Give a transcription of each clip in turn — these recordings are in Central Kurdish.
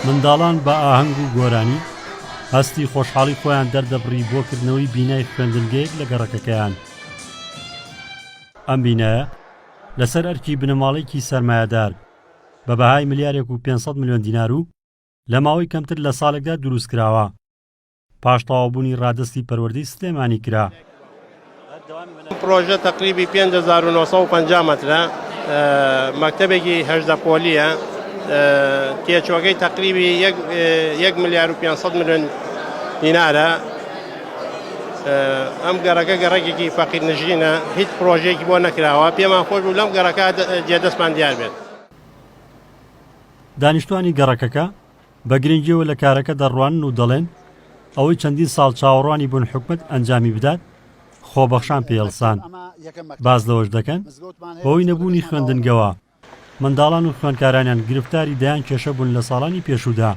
منداڵان بە ئاهەنگ و گۆرانی هەستی خۆشحاڵی خۆیان دەردەبڕی بۆ کردنەوەی بینای خوێندنگەیەک لە گەڕەکەکەیان ئەم بینایە لەسەر ئەرکی بنەماڵێکی سەرمایەدار بە بەهای ملیارێک و 500 ملیۆن دینار و لە ماوەی کەمتر لە ساڵێکدا دروست کراوە پاش تەواوبوونی ڕادەستی پەروەردەی سلێمانی کرا. پرۆژە تقریبی 5950 مترە مەکتتەبێکی هەشدە پۆلیە تێچوەکەی تقریبی 1 ملیار و 500 میلیۆن دینارە ئەم گەڕەکە گەڕێکێکی فەقیر نژینە هیچ پرۆژێکی بۆ نەکراوە پێمان خۆش و لەم گەڕەکە جێدەستمان دیار بێت دانیشتوانی گەڕەکەکە بە گرنگیەوە لە کارەکە دەڕوانن و دەڵێن، ئەوەی چەندین ساڵ چاوەڕوانی بوون حکومەت ئەنجامی بدات، خۆبەخشان پێ هەڵسان. باس لەوەش دەکەن، بەهۆی نەبوونی خوێندنگەوە، منداڵان و خوێندکارانیان گرفتاری دەیان کێشە بوون لە ساڵانی پێشوودا.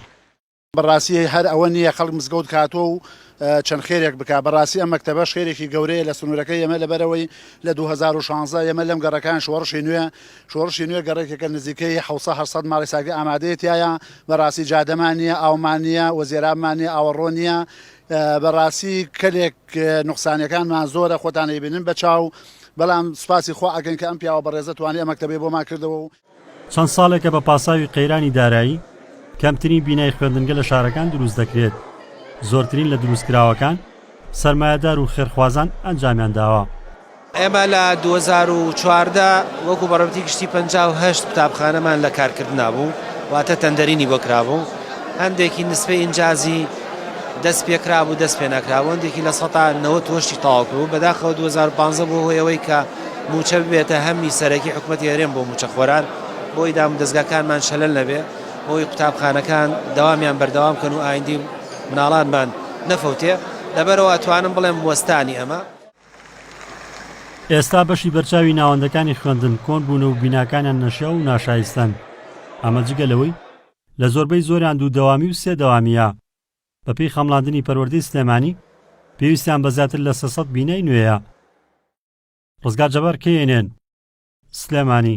بەڕاستی هەر ئەوە نییە خەڵک مزگەوت کاتۆ و چەند خێرێک بکات، بەڕاستی ئەم مەکتەبەش خێرێکی گەورەیە لە سنوورەکەی ئێمە، لەبەرئەوەی لە دوو هەزار و شانزدە ئێمە لەم گەڕەکەیان شۆڕشی نوێ شۆڕشی نوێ گەڕەکێکە نزیکەی حەوت سەد هەشت سەد ماڵی ساردی ئامادەیە تیایا بەڕاستی جادەمان نیە ئاومان نیە و زێرابمان نیە ئاوەڕۆ نیە بەڕاستی کەلێک نوقسانەکانمان زۆرە خۆتان ئەیبینن بە چاو بەڵام سوپاسی خوا ئەکەین کە ئەم پیاوە بەڕێزە توانی ئەم مەکتەبەی بۆمان کردەوە و چەند ساڵێکە بە پاساوی قەیرانی دارایی کەمترین بینای خوێندنگە لە شارەکان دروست دەکرێت زۆرترین لە دروستکراوەکان سەرمایەدار و خێرخوازان ئەنجامیان داوە ئێمە لە دوو هەزار و چواردە وەکو بەڕێوەبەری گشتی پەنجا و هەشت قوتابخانەمان لە کارکردنا بوو، واتە تەندەرینی بۆ کرابوو، هەندێکی نسبەی ئینجازی دەست پێکرابوو دەست پێ نەکرابوو، هەندێکی لە سەتا نەوەد وەشی تەواو کردبوو، بەداخەوە دوو هەزار و پازدە بووە هۆی ئەوەی کە مووچە ببێتە هەمی سەرەکی حکومەتی هەرێم بۆ مووچەخۆران، بۆی دامودەزگاکانمان شەلەل نەبێ، بۆی قوتابخانەکان دەوامیان بەردەوام کەن و ئایندەی مناڵانمان نەفەوتێ، لەبەرئەوە ئەتوانم بڵێم وەستانی ئەمە. ئێستا بەشی بەرچاوی ناوەندەکانی خوێندن کۆن بوون و بیناکانیان نەشیاو و ناشایستەن ئەمە جگە لەوەی لە زۆربەی زۆریان دوو دەوامی و سێ دەوامییە بەپێی خەمڵاندنی پەروەردەی سلێمانی پێویستیان بە زیاتر لە سێ سەد بینای نوێیە ڕزگار جەبار کەیەنێن سلێمانی